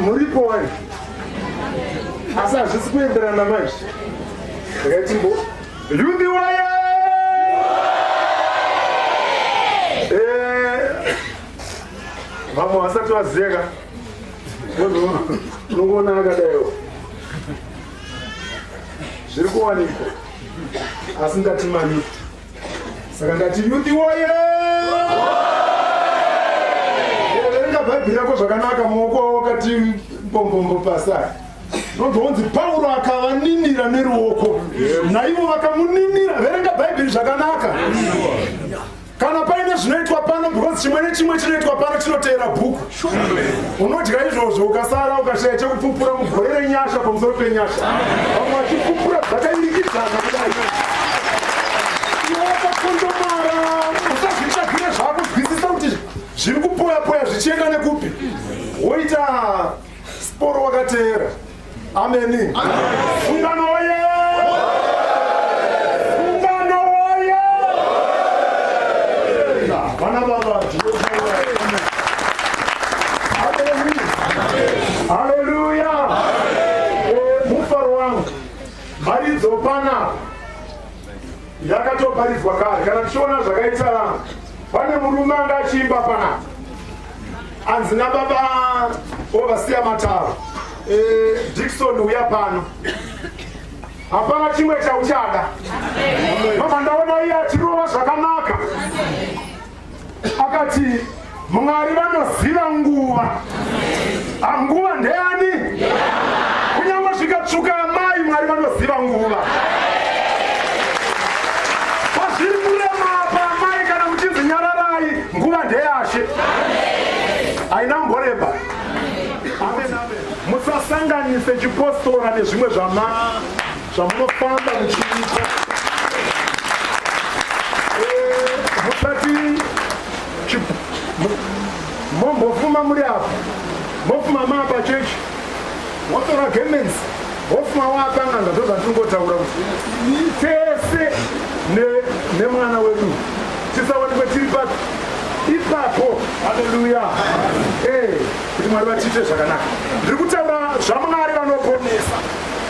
muripo wani asi hazvisi kuenderana manje ngaitimbo yundi waye eh, vamwe vasati vazeka unongoona akadaiwo zviri kuwanikwa asi ngatimaniko saka ndati yuti woye verenga bhaibheri yako zvakanaka maoko awo kati mbombombo pasai nonzonzi pauro akavaninira neruoko naivo vakamuninira verenga bhaibheri zvakanaka kana paine zvinoitwa pano because chimwe nechimwe chinoitwa pano chinoteera bhuku unodya izvozvo ukasara ukashaya chekupupura mugore renyasha pamusoro penyasha vamwe vachipupura dzakairikidzana kudai iwakakondomara usazvitsvagire zvakunzwisisa kuti zviri kupoya poya zvichienda nekupi woita sporo wakateera Ameni. Sungano woye! Sungano woye! Vana baba, Haleluya! Mufaro wangu, mharidzo panapa yakatoparidzwa kare kana tichiona zvakaitana pane murume anga achiimba panapa anzi nababa ovasiya mataro e, eh, dikson uya pano hapana chimwe chauchada mama ndaona iye atirova zvakanaka akati mwari vanoziva nguva ah, nguva ndeyani kunyange zvikatsvuka amai mwari vanoziva nguva pazviri kurema apa amai kana muchinzi nyararai nguva ndeyashe haina mboreba musasanganise chipostora nezvimwe zvama zvamunofamba muchiita eh, musati mombofuma muri apa mofuma maapa chechi motora gemensi mofuma waapanganga ndozvatingotaura kuti tese nemwana wedu tisawanikwe tiri papi ipapo haleluya eh, kuti mwari vatiite zvakanaka ndiri kutaura zvamwari vanoponesa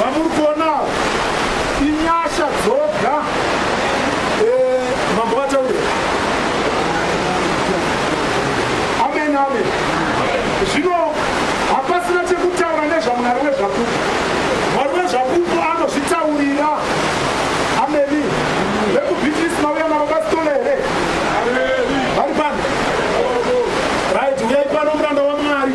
vamuri kuonawo inyasha dzoga eh, mambo vataure amen amen zvino hapasina chekutaura nezvamwari wezvakupa mwari wezvakupa anozvitaurira ameni vekubhitisi mauya navo pasitole here vari pano rit uyai pano muranda wamwari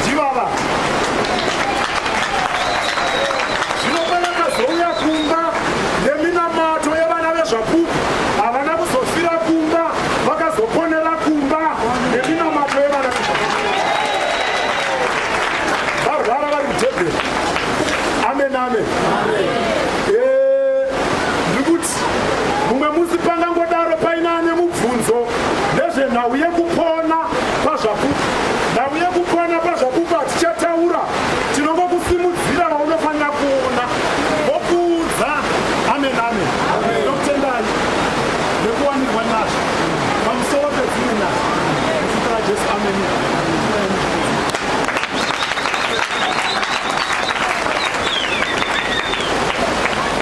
ndivava zvino pavakazouya kumba neminamato yevana vezvapupu havana kuzofira kumba vakazoponera kumba neminamato yevana varwara vari kutebhera amen amen Mumwe musi pangangodaro paina ane mubvunzo nezvenhau yekupona pazvapupu. Nhau yekupona pazvapupu hatichataura, tinongokusimudzira vaunofanira kuona vokuudza. Amen, amen. Ndokutendai nekuwanirwa nyasha pamusoro pedzimwe nyasha muzita raJesu. Amen.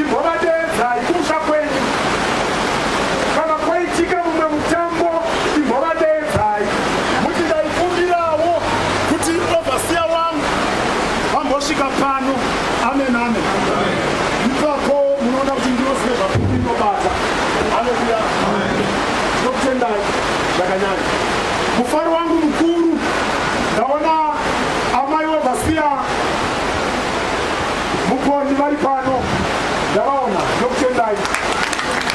Imhovadeedzai kumusha kwenyu. Kana kwaitika mumwe mutambo imhovadeedzai. Muti ndaikumbirawo kuti overseer wangu ambosvika pano. Amen amen. Ipapo munoona kuti ndiro zvinhu zvakuru inobata. Haleluya. Ndinokutendai zvakanyanya. Mufaro wangu mukuru ndaona amai overseer Mupondi vari pano ndavaona ndokutendai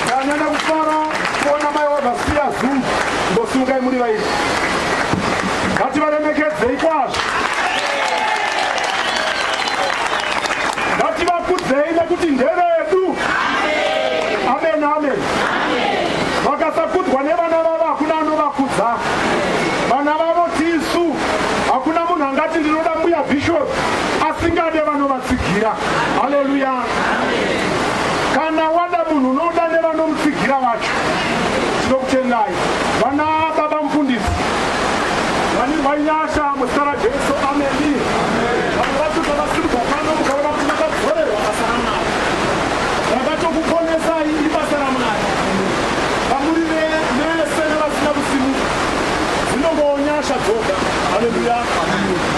ndanyanya kufara kuona mai wavasiya zuu ndosungai muri vairi vati varemekedzei kwazvo vati vakudzei nekuti ndevedu amen amen vakasakudzwa nevana vavo hakuna anovakudza vana vavo tisu hakuna munhu angati ndinoda mbuya bishop asingade vanovatsigira haleluya kana wada munhu unoda nevanomutsigira vacho tinokutendai vana baba mufundisi vani vanyasha muzita rajesu ameni vanhu vacho zvavasirirwa pano mukaona kuti vakadzorerwa basa ramwari rakatokuponesai ibasa ramwari vamuri vese nevasina kusimuka dzinongonyasha dzoga haleluya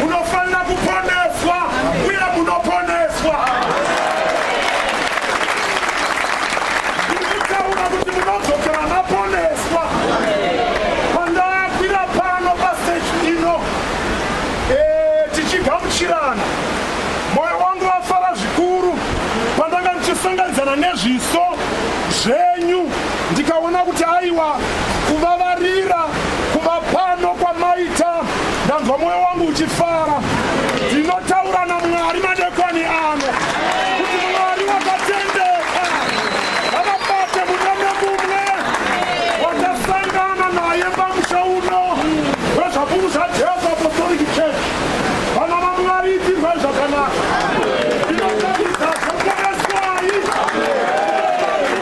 munofanira kuponeswa uye munoponeswa ndikutaura kuti munodzokera maponeswa pandakwira pano pasteji ino eh, tichigamuchirana moyo wangu wafara zvikuru pandanga ndichisanganidzana nezviso zvenyu ndikaona kuti aiwa kuvavarira Kuba pano kwamaita ndanzwa moyo wangu uchifara. Ndinotaura naMwari madekoni ano kuti Mwari wakatendeka havabate mune nemumwe wakasangana naye pamusha uno wezvakuru zvaJesu Apostolic Church vana vaMwari itirwe zvakanaka. Ndinotarisazvo poneswai.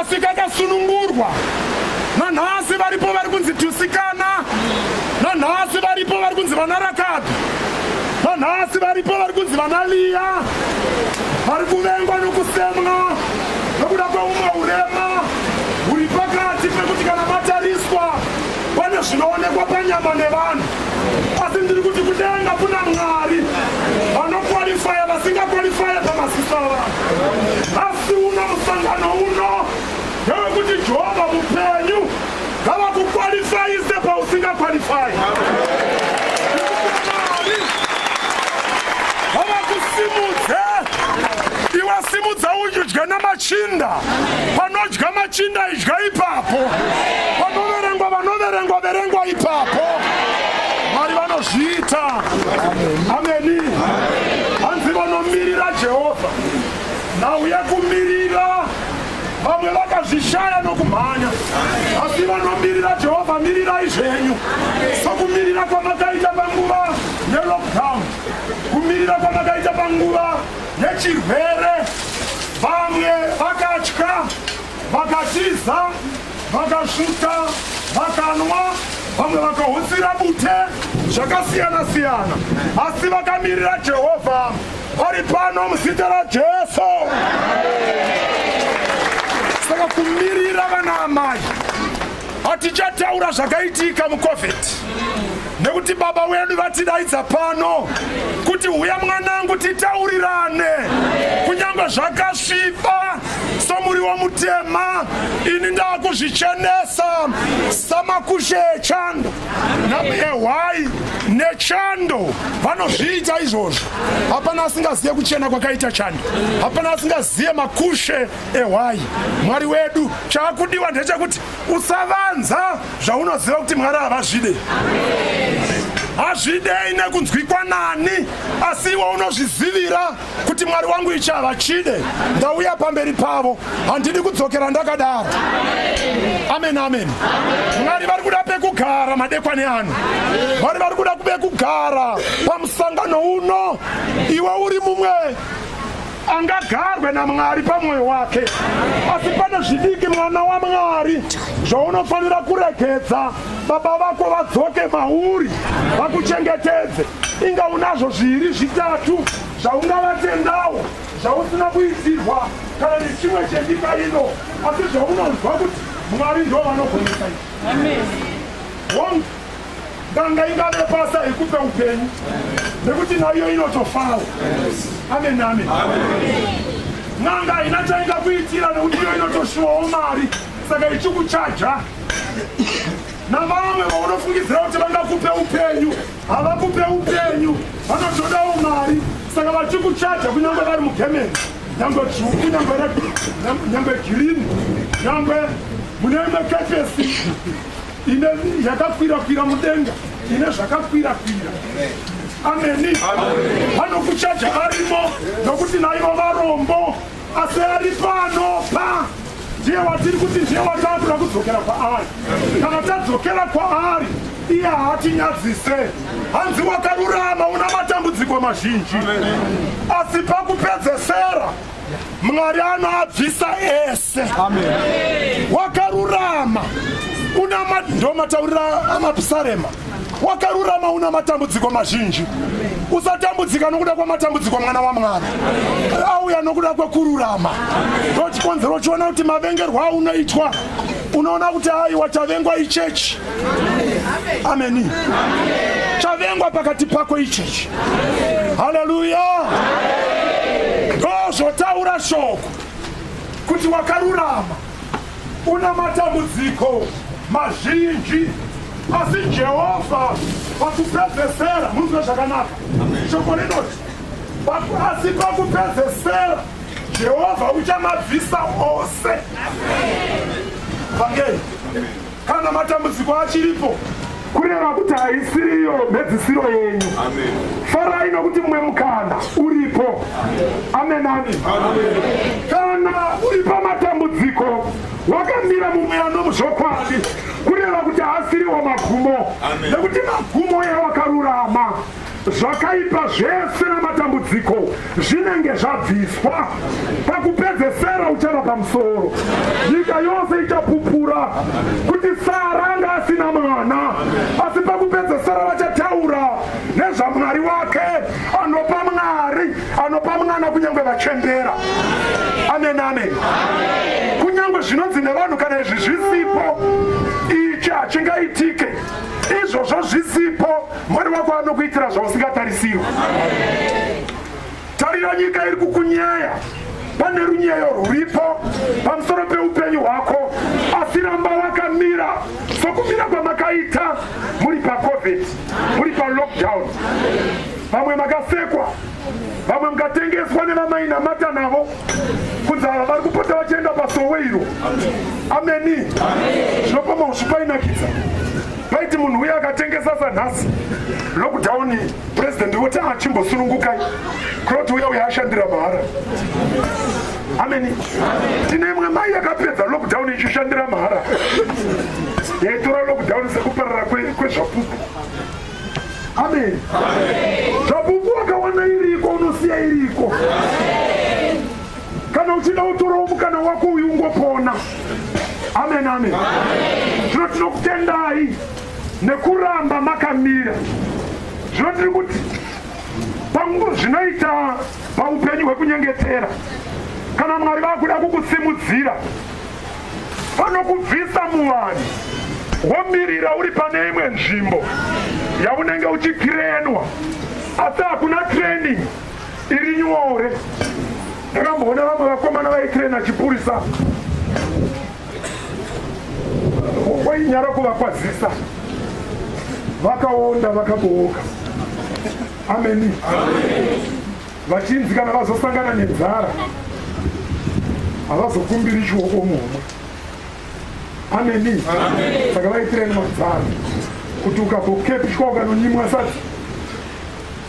asi kakasunungurwa nanhasi varipo vari kunzi tusikana nanhasi varipo vari kunzi vana rakadhi nanhasi varipo vari kunzi vana liya vari kuvengwa nokusemwa nokuda kweumwe urema huri pakati pekuti kana matariswa pane zvinoonekwa panyama nevanhu asi ndiri kuti kudenga kuna mwari vanokwalifaya vasingakwalifaya pamasiso avanhu Asi uno musangano uno ndewekuti Jehovha mupenyu ngavakukwalifaise pausingakwalifai. Ngavakusimudze iwe simudza udye namachinda. Panodya machinda idya ipapo. Panoverengwa vanoverengwa verengwa ipapo. Mwari vanozviita. Ameni. Hanzi vanomirira Jehovha. nhau yekumirira vamwe vakazvishaya nokumhanya asi vanomirira jehovha mirirai zvenyu sokumirira kwamakaita panguva yelockdown kumirira kwamakaita panguva yechirwere vamwe vakatya vakatiza vakasvika vakanwa vamwe vakahutsira bute zvakasiyana siyana asi vakamirira jehovha vari pano muzita rajesu saka kumirira vana amai hatichataura zvakaitika mucovid nekuti baba wedu vatidaidza pano kuti huya mwanangu titaurirane kunyange zvakasviba somuriwo mutema ini ndakuzvichenesa samakushe echando ehwai nechando vanozviita izvozvo hapana asingazive kuchena kwakaita chando hapana asingazive makushe ehwai mwari wedu chaakudiwa ndechekuti usavanza zvaunoziva kuti mwari havazvide hazvidei nekunzwikwa nani asi iwe unozvizivira kuti mwari wangu ichava chide ndauya pamberi pavo handidi kudzokera ndakadaro amen amen mwari vari kuda pekugara madekwani ano mwari vari kuda kubekugara pamusangano uno iwe uri mumwe angagarwe namwari pamwoyo wake asi pane zvidiki mwana wamwari zvaunofanira kuregedza baba vako vadzoke mauri vakuchengetedze inga unazvo zviiri zvitatu zvaungavatendawo zvausina kuitirwa kana nechimwe chenyika ino asi zvaunonzwa kuti mwari ndo vanogonesa izvi nganga ingave basa yekupe upenyu nekuti naiyo inotofawo amen amen n'anga haina chainga kuitira nekuti iyo inotoshuwawo mari saka ichikuchaja navamwe vaunofungidzira kuti vangakupe upenyu havakupe upenyu vanotodawo mari saka vachikuchaja kunyange vari mugemeni nyangwe dzvuku nyangwe nyangwe girini nyangwe mune imwe kepesi ine yakakwirakwira mudenga ine zvakakwirakwira ameni vanokuchaja varimo nokuti naivo varombo asi ari pano pa ndiye watiri kuti ndiye watakuda kudzokera kwaari kana tadzokera kwaari iye haatinyadzise hanzi wakarurama una matambudziko mazhinji asi pakupedzesera mwari anoabvisa ese wakarurama una ndomataurira amapsarema wakarurama una matambudziko mazhinji usatambudzika nokuda kwamatambudziko mwana wamwari auya nokuda kwekururama ndochikonzero uchiona kuti mavengerwo aunoitwa unoona kuti aiwa chavengwa ichechi ameni chavengwa pakati pako ichechi haleluya ndozvotaura shoko kuti wakarurama Una matambudziko mazhinji asi Jehovha pakupedzesera munzwe zvakanaka. Shoko rinoti asi pakupedzesera Jehovha uchamabvisa ose. Vangei. Kana matambudziko achiripo kureva kuti haisiriyo mhedzisiro yenyu farai nokuti mumwe mukana uripo amenani kana uri pamatambudziko wakamira mumwe anomuzvokwadi kureva kuti haasiriwo magumo nekuti magumo ewakarurama zvakaipa zvese namatambudziko zvinenge zvabviswa pakupedzesera uchava pamusoro nyika yose ichapupura kuti sara anga asina mwana asi pakupedzesera vachataura nezvamwari wake anopa mwari anopa mwana kunyange vachembera amen amen kunyange zvinonzi nevanhu kana izvi zvisipo ichi hachingaitike izvozvo zvisipo Mwari wako anokuitira zvausingatarisirwa. Tarira nyika iri kukunyaya, pane runyeyo rwuripo pamusoro peupenyu hwako, asi ramba wakamira sokumira kwamakaita muri pacovid, muri palockdown. Vamwe makasekwa, vamwe mukatengeswa nevamainamata navo kunzi ava vari kupota vachienda pasowe iro. Ameni, zvinopama zvipainakidza. paiti munhu uye akatengesa sanhasi lockdown president voti achimbosunungukai kuroti uya uya ashandira mahara ameni tine imwe mai yakapedza lockdown ichishandira mahara yaitora lockdown sekuparara kwezvapupu ameni zvapupu akawana iriko unosiya iriko kana uchida utorawo mukana wako uyu ungopona amen amen zvino tinokutendai nekuramba makamira zvino tiri kuti zvinoita paupenyu hwekunyengetera kana mwari vakuda kukusimudzira vanokubvisa muvanhu womirira uri pane imwe nzvimbo yaunenge uchikirenwa asi hakuna training iri nyore ndakamboona vamwe vakomana vaitrena chipurisa wainyara kuvakwazisa vakaonda vakabooka ameni vachinzi kana vazosangana nenzara havazokumbiri chioko mumwe ameni saka vaitireni madzara kuti ukazokepishwa ukanonyimwa sadzi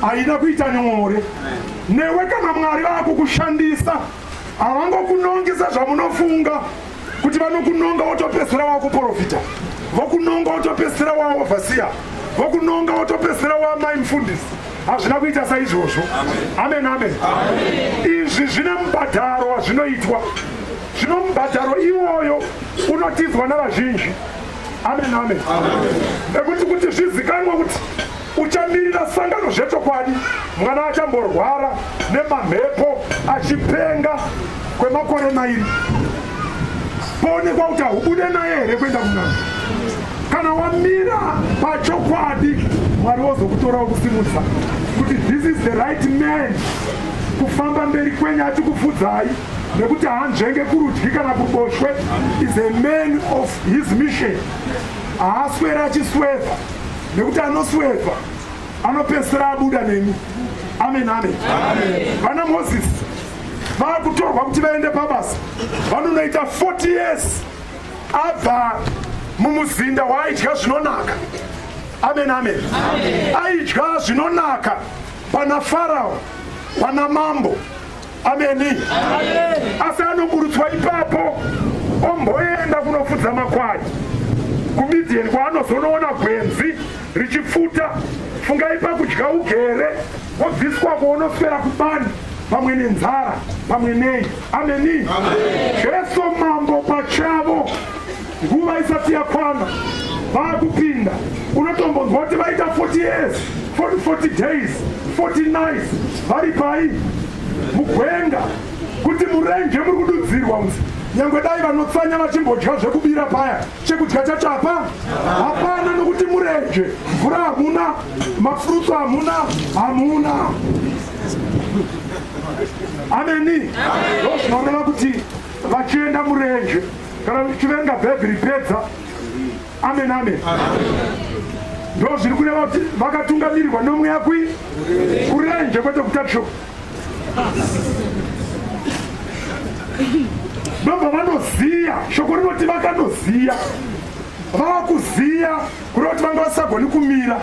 haina kuita nyore newe kana mwari vakukushandisa havangokunongi sezvamunofunga kuti vanokunonga wotopesera wakuprofita vokunonga wotopesera waovhasiya vokunonga wotopesera wamai mufundisi hazvina kuita saizvozvo amen amen izvi zvine mubhadharo wazvinoitwa zvino mubhadharo iwoyo unotidzwa navazhinji amen amen ekuti kuti zvizikanwa kuti Uchamirira sangano zvechokwadi. Mwana achamborwara nemamhepo achipenga kwemakore mairi poonekwa kuti haubude naye here kuenda kunana. Kana wamira pachokwadi, Mwari wozokutora wokusimudza kuti this is the right man kufamba mberi kwenyu achikufudzai nekuti haanzvenge kurudyi kana kuboshwe is a man of his mission haaswera achisweva nekuti anosweva anopedzisira abuda nemi amen amen vana moses vakutorwa kuti vaende pabasa vanonoita 40 years abva mumuzinda waaidya zvinonaka amen amen aidya zvinonaka pana farao pana mambo ameni asi anoburutswa ipapo omboenda kunofudza makwai kumidian kwaanozonoona gwenzi richipfuta fungai pakudya ugere wobviswa kwoonoswera kubani pamwe nenzara pamwe nei ameni jesu mambo pachavo Nguva isati yakwana vakupinda unotombonzwa kuti vaita 40 years 40, 40 days 40 nights vari pai mugwenga kuti murenje muri kududzirwa usi nyangwe dai vanotsanya vachimbodya zvekubira paya chekudya chacho hapa hapana nokuti murenje mvura hamuna mafrutsu hamuna hamuna ameni ndozvinoreva kuti vachienda murenje kana tichiverenga bhaibheri pedza amen amen ndo zviri kureva kuti vakatungamirirwa nomweya kui kurenje kwete kutatsho ndobva vanoziya shoko rinoti vakanoziya vava kuziya kureva kuti vanga vasagoni kumira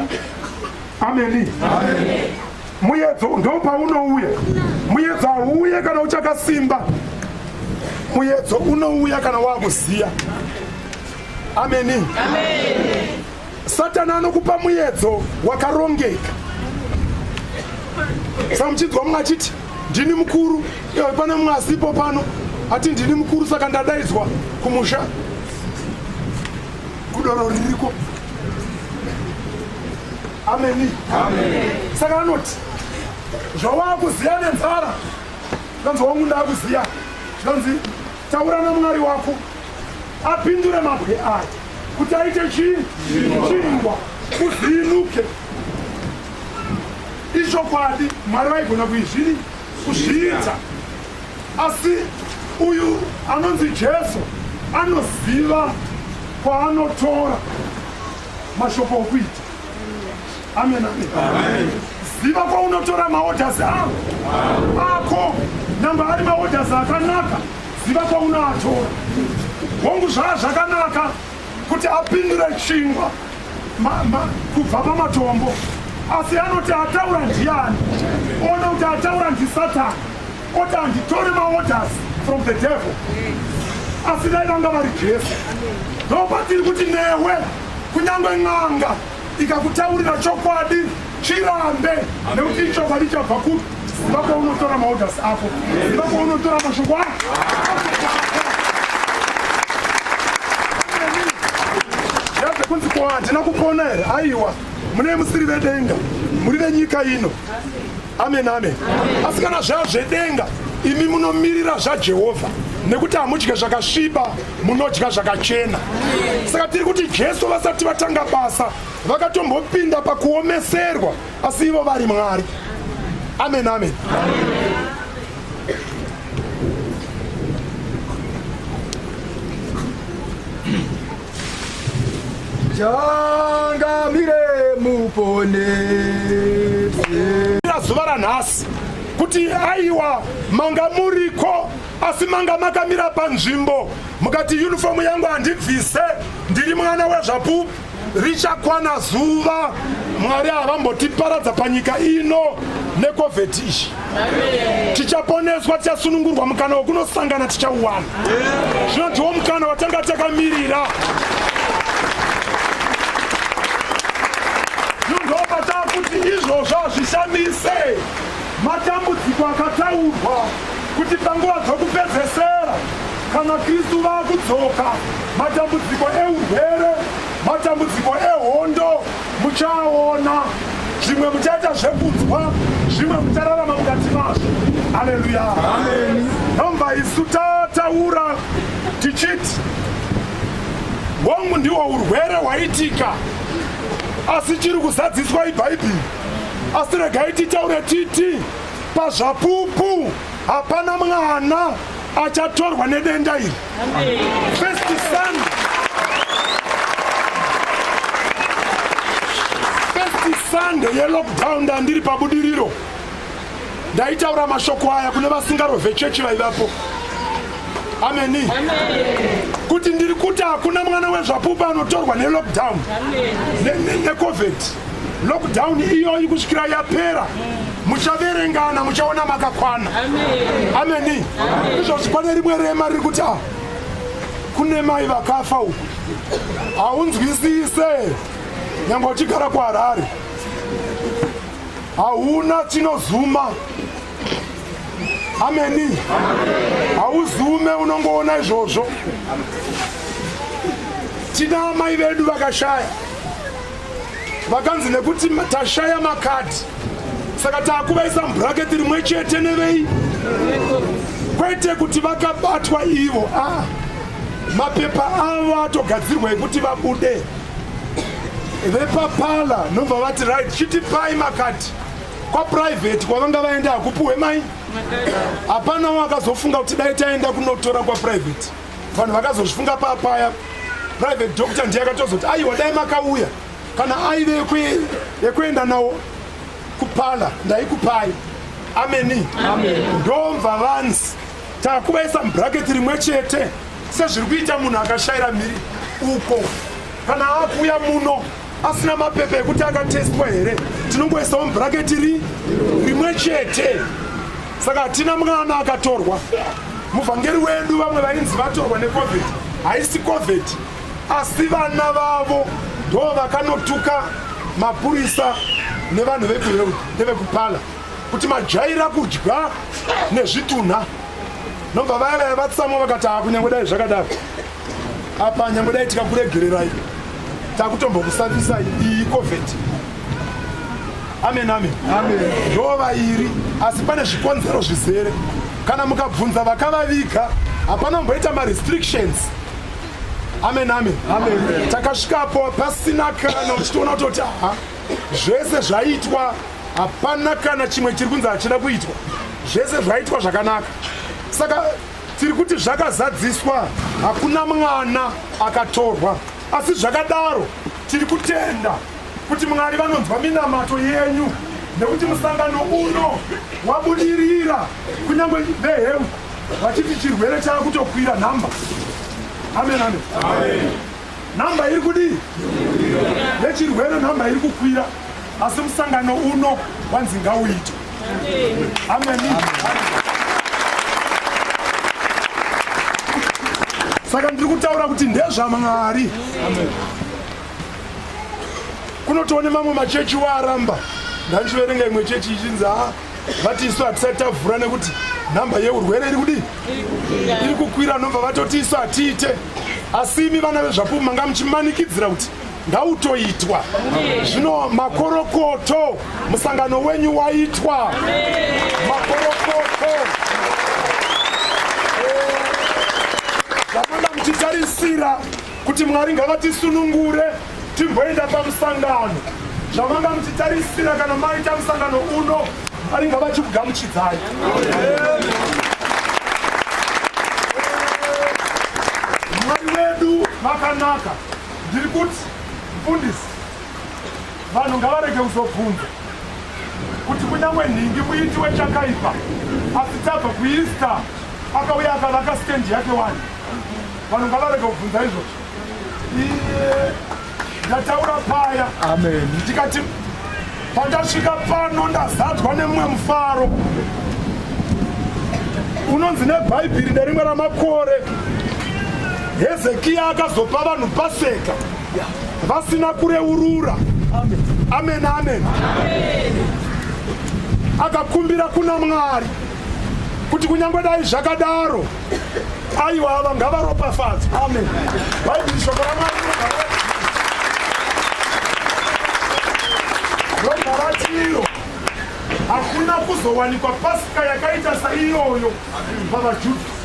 ameni, ameni. Muyedzo ndopaunouya. Muyedzo hauuye kana uchakasimba. Muyedzo unouya kana wakuziya. Ameni. Amen. Satani anokupa muyedzo wakarongeka. Saka muchinzwa mumwe achiti ndini mukuru, iwe pane mumwe asipo pano ati ndini mukuru, saka ndadaidzwa kumusha kudoro ririko ameni saka anoti zvawakuziva nenzara zvanzi wangu ndakuziva zvanzi taura namwari wako apindure mabwe aya kuti aite chii chingwa kuvhinuke ichokwadi mwari vaigona kuizviri kuzviita asi uyu anonzi jesu anoziva kwaanotora mashoko okuita amen amen ziva kwaunotora maodhasi avo ako namba ari maodhasi akanaka ziva kwaunoatora hongu zvaa zvakanaka kuti apindure chingwa kubva pamatombo asi anoti ataura ndiani ona kuti ataura ndisatani Oti handitore maorders from the devil. Asi dai vanga vari Jesu. Ndopatiri kuti newe kunyange n'anga ikakutaurira chokwadi chirambe nekuti ichokwadi chabva kupi ziva kwaunotora maorders ako ziva kwaunotora mashoko ako kunzi ko handina kupona here aiwa mune musiri vedenga muri venyika ino amen amen asi kana zvava zvedenga imi munomirira zvajehovha nekuti hamudye zvakasviba munodya zvakachena saka tiri kuti jesu vasati vatanga basa vakatombopinda pakuomeserwa asi ivo vari mwari amen amen changamire muponese zuva ranhasi kuti aiwa manga muriko asi manga makamira panzvimbo mukati yunifomu yangu handibvise ndiri mwana wezvapupu richakwana zuva mwari havambotiparadza panyika ino nekovheti izvi tichaponeswa tichasunungurwa mukana wekunosangana tichauwana zvino ndiwo mukana watanga takamirira ndopatava kuti izvozvo hazvishamise matambudziko akataurwa kuti panguva dzokupedzesera kana kristu vakudzoka matambudziko eurwere matambudziko ehondo muchaona zvimwe muchaita zvekunzwa zvimwe muchararama mukati mazvo aleluya nomva isu tataura tichiti hongu ndiwo urwere hwaitika asi chiri kuzadziswa ibhaibheri asi regai titaure titi pazvapupu hapana mwana achatorwa nedenda iri sando yelockdown ndandiri pabudiriro ndaitaura mashoko aya kune vasingarove chechi vaivapo ameni kuti ndiri kuti hakuna mwana wezvapupu anotorwa nelockdown necovid lockdown iyoyi kusvikira yapera muchaverengana muchaona makakwana ameni izvozvi pane rimwe rema riri kuti a kune mai vakafa uku haunzwisise nyangwe uchigara kuharare hauna chinozuma ameni hauzume unongoona izvozvo tina amai vedu vakashaya vakanzi nekuti tashaya makadhi saka taakuvaisa mubhuraketi rimwe chete nevei kwete kuti vakabatwa ivo a ah, mapepa avo atogadzirwa ekuti vabude vepapala nobva vati right chitipai makadhi kwaprivate kwavanga vaenda hakupiwe mai hapana wakazofunga kuti dai taenda kunotora kwaprivate vanhu vakazozvifunga paa paya private doctor ndiye akatozoti aiwa dai makauya kana aive yekuenda nawo kupala ndaikupai ameni ndomva vanzi takuvaisa mubraketi rimwe chete sezviri kuita munhu akashayira mhiri uko kana akuuya muno asina mapepa ekuti akatestwa here tinongoisawo mubhuraketi ri rimwe chete saka hatina mwana akatorwa muvhangeri wedu vamwe vainzi vatorwa necovid haisi covid asi vana vavo ndo vakanotuka mapurisa nevanhu vekuhealth nevekupala kuti majaira kudya nezvitunha nobva vaya vaya vatsamwa vakati haa kunyange dai zvakadaro apa nyangwe dai tikakuregererai takutombokusafisai iyi covid amen amen ndo vairi asi pane zvikonzero zvizere kana mukabvunza vakavaviga hapana mboita marestrictions amen amen takasvikapo pasina kana uchitoona kutoti aha zvese zvaitwa hapana kana chimwe chiri kunzi hachina kuitwa zvese zvaitwa zvakanaka saka Tiri kuti zvakazadziswa hakuna mwana akatorwa asi zvakadaro tiri kutenda kuti Mwari vanonzwa minamato yenyu nekuti musangano uno wabudirira kunyange vehealth vachiti chirwere chaakutokwira nhamba amen amen, amen. Nhamba iri kudii? Nechirwere nhamba iri kukwira asi musangano uno wanzi ngauite. Ameni. Saka ndiri kutaura kuti ndezvaMwari. Kunotoone mamwe machechi waaramba. Ndandichiverenga imwe chechi ichinzi vati isu hatisati tavhura nekuti nhamba yeurwere iri kudii iri kukwira nobva vatoti isu hatiite asi imi vana vezvapupu manga muchimanikidzira kuti ngautoitwa zvino makorokoto musangano wenyu waitwa makorokoto zvamanga muchitarisira kuti mwari ngavatisunungure timboenda pamusangano zvamanga muchitarisira kana maita musangano uno mwari ngavachikugamuchidzai mwari wedu makanaka ndiri kuti mfundisi vanhu ngavarege kuzobvunza kuti kunyangwe nhingi muiti wechakaipa asi tabva kuista akauya akavaka stendi yake wani vanhu ngavarega kubvunza izvozvo iye ndataura paya amen ndikati pandasvika pano ndazadzwa nemumwe mufaro unonzi nebhaibheri nerimwe ramakore hezekiya akazopa vanhu paseka vasina kureurura amen amen, amen. amen akakumbira kuna mwari kuti kunyange dai zvakadaro aiwa ava ngavaropafadzi amen bhaibheri shoko ramwari rogaratiro hakuna kuzowanikwa pasika yakaita saiyoyo pavajudha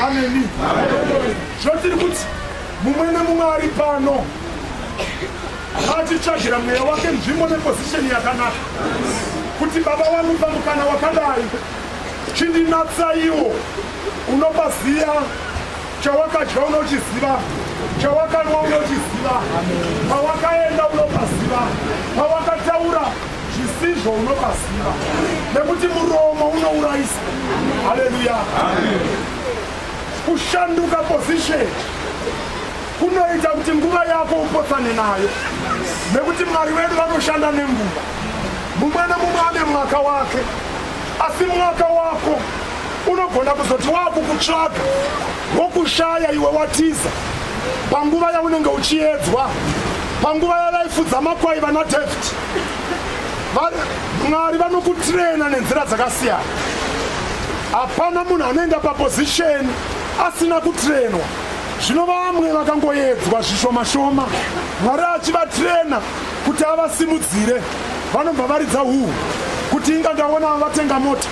ameni zvotiri kuti mumwe nemumwe ari pano atitsvagira mweya wake nzvimbo nepozisheni yakanaka kuti baba vamupa mukana wakadai Chindinatsaiwo, unopa ziya chawakadya unochiziva chawakanwa unochiziva pawakaenda unopaziva pawakataura zvisizvo unopaziva nekuti muromo unourayisa haleluya kushanduka position kunoita kuti nguva yako upotsane nayo nekuti mwari wedu vanoshanda nenguva mumwe nemumwe ane mwaka wake asi mwaka wako unogona kuzoti waakukutsvaga wokushaya iwe watiza panguva yaunenge uchiedzwa panguva yavaifudza makwai vana david mwari vanokutrena nenzira dzakasiyana hapana munhu anoenda papozisheni asina kutrenwa zvino vamwe vakangoedzwa zvishomashoma mwari achivatrena kuti avasimudzire vanobva varidza huhu kuti inga ndaona vatenga mota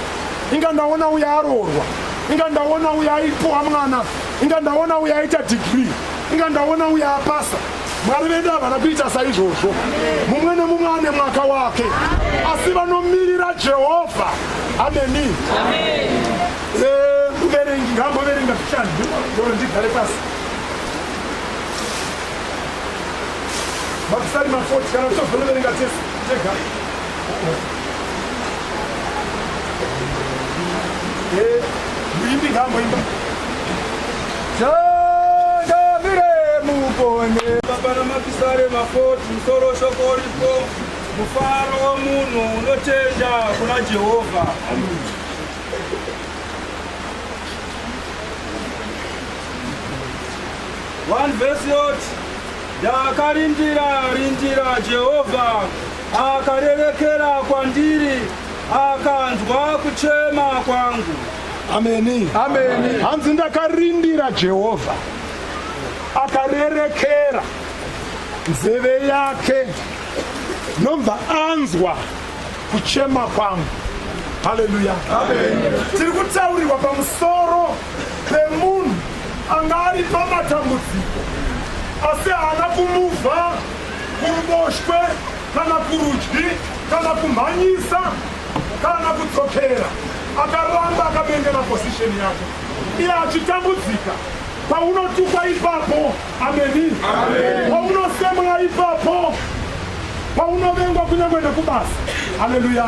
inga ndaona uya aroorwa inga ndaona uya aipuwa mwana inga ndaona uya aita dhigiri inga ndaona uya apasa mwari vedu havana kuita saizvozvo mumwe nemumwe ane mwaka wake asi vanomirira jehovha ameni muverengi eh, ngamboverenga zvichani ndigare pasi Mapisari mafoti kana tichozondoverenga tese tega. Eh, muimbi ngaamboimba. Changamire mupone. Baba na mapisari mafoti musoro shoko ripo. Mufaro womunhu unotenda kuna Jehovha. 1 vhesi yoti ndakarindira rindira jehovha akarerekera kwandiri akanzwa kuchema kwangu ameni ameni hanzi ndakarindira jehovha akarerekera nzeve yake nobva anzwa kuchema kwangu haleluya tiri kutaurirwa pamusoro pemunhu anga ari pamatambudziko asi haana kumuvha kuruboshwe kana kurudyi kana kumhanyisa kana kudzokera akaramba akabengera posisheni yake iye achitambudzika paunotukwa ipapo ameni paunosemwa ipapo paunovengwa kunyange nekubasa haleluya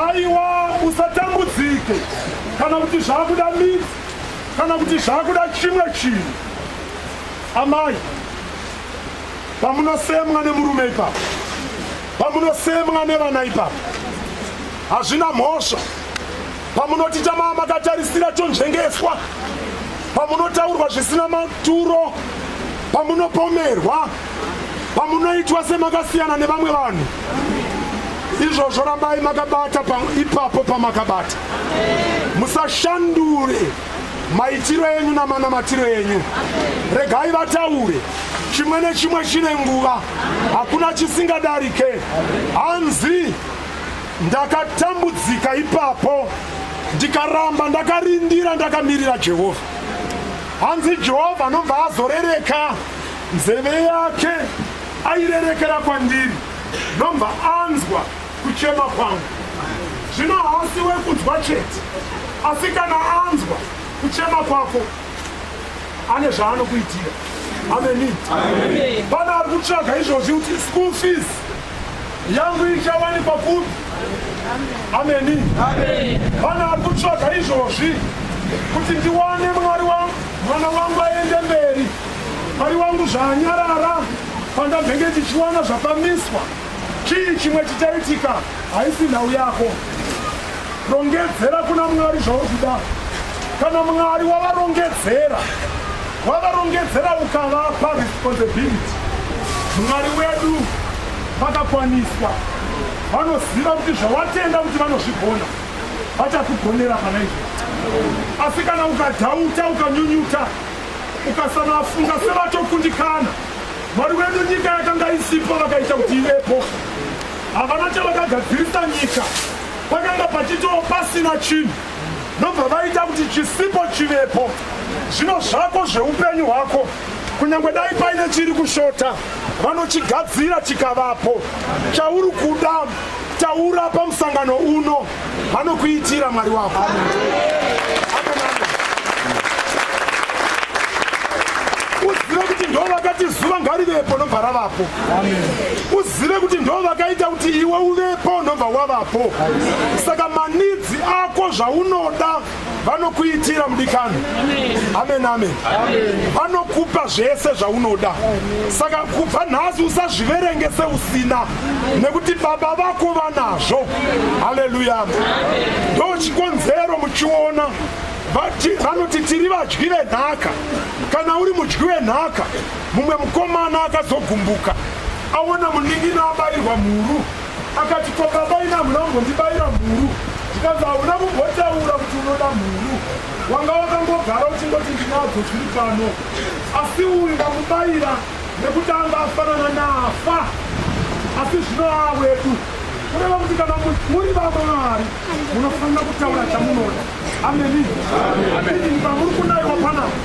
aiwa usatambudzike kana kuti zvakuda midzi kana kuti zvakuda chimwe chinhu amai pamunosemwa nemurume ipapo pamunosemwa nevana ipapo hazvina mhosva pamunoti chamaa makatarisira chonzvengeswa pamunotaurwa zvisina maturo pamunopomerwa pamunoitwa semakasiyana nevamwe vanhu izvozvo rambai makabata pa, ipapo pamakabata musashandure maitiro enyu namanamatiro enyu regai vataure chimwe nechimwe chine nguva hakuna chisingadarike hanzi ndakatambudzika ipapo ndikaramba ndakarindira ndakamirira jehovha hanzi jehovha anobva azorereka Nzeve yake airerekera kwandiri ndobva anzwa kuchema kwangu. Zvino haasi wekunzwa chete, asi kana anzwa kuchema kwako ane zvaanokuitira. Ameni. Pane ari kutsvaga izvozvi kuti school fees yangu ichawanikwa kupi? Ameni. Pane ari kutsvaga izvozvi kuti ndiwane mwari wangu mwana wangu aende mberi Mwari wangu zvaanyarara pandambenge ndichiwana zvapamiswa chii chimwe chichaitika haisi nhau yako rongedzera kuna mwari zvauri kuda kana mwari wavarongedzera wavarongedzera ukavapa responsibility mwari wedu vakakwaniswa vanoziva kuti zvawatenda kuti vanozvigona vachakugonera kana izvo asi kana ukadhauta ukanyunyuta ukasavafunga sevatokundikana mwari wedu nyika yakanga isipo vakaita kuti ivepo havana chavakagadzirisa nyika pakanga pachitoo pasina chinhu ndobva vaita kuti chisipo chivepo zvino zvako zveupenyu hwako kunyange dai paine chiri kushota vanochigadzira chikavapo chauri kuda taura pamusangano uno vanokuitira mwari wako uzive kuti ndo vakati zuva ngarivepo nobva ravapo uzive kuti ndo vakaita kuti iwe uvepo nobva wavapo saka manidzi ako zvaunoda vanokuitira mudikani amen amen vanokupa zvese zvaunoda saka kubva nhasi usazviverenge seusina nekuti baba vako vanazvo haleluya ndo chikonzero muchiona vanoti tiri vadyi venhaka kana uri mudyi wenhaka mumwe mukomana akazogumbuka aona munin'ina abairwa mhuru akati ko baba ina hamuna kumbondibaira mhuru ndikanzi hauna kumbotaura kuti unoda mhuru wanga wakangogara uchingoti ndinadzo zviri pano asi uyu ndamubaira nekuti anga afanana naafa asi zvino aa wedu kureva kuti kana muri vamwe mari munofanira kutaura chamunoda ameni pamuri kunaiwa panapa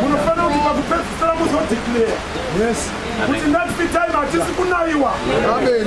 munofanira kuti pakupedzisira muzodeclare yes kuti next time hatisi kunayiwa amen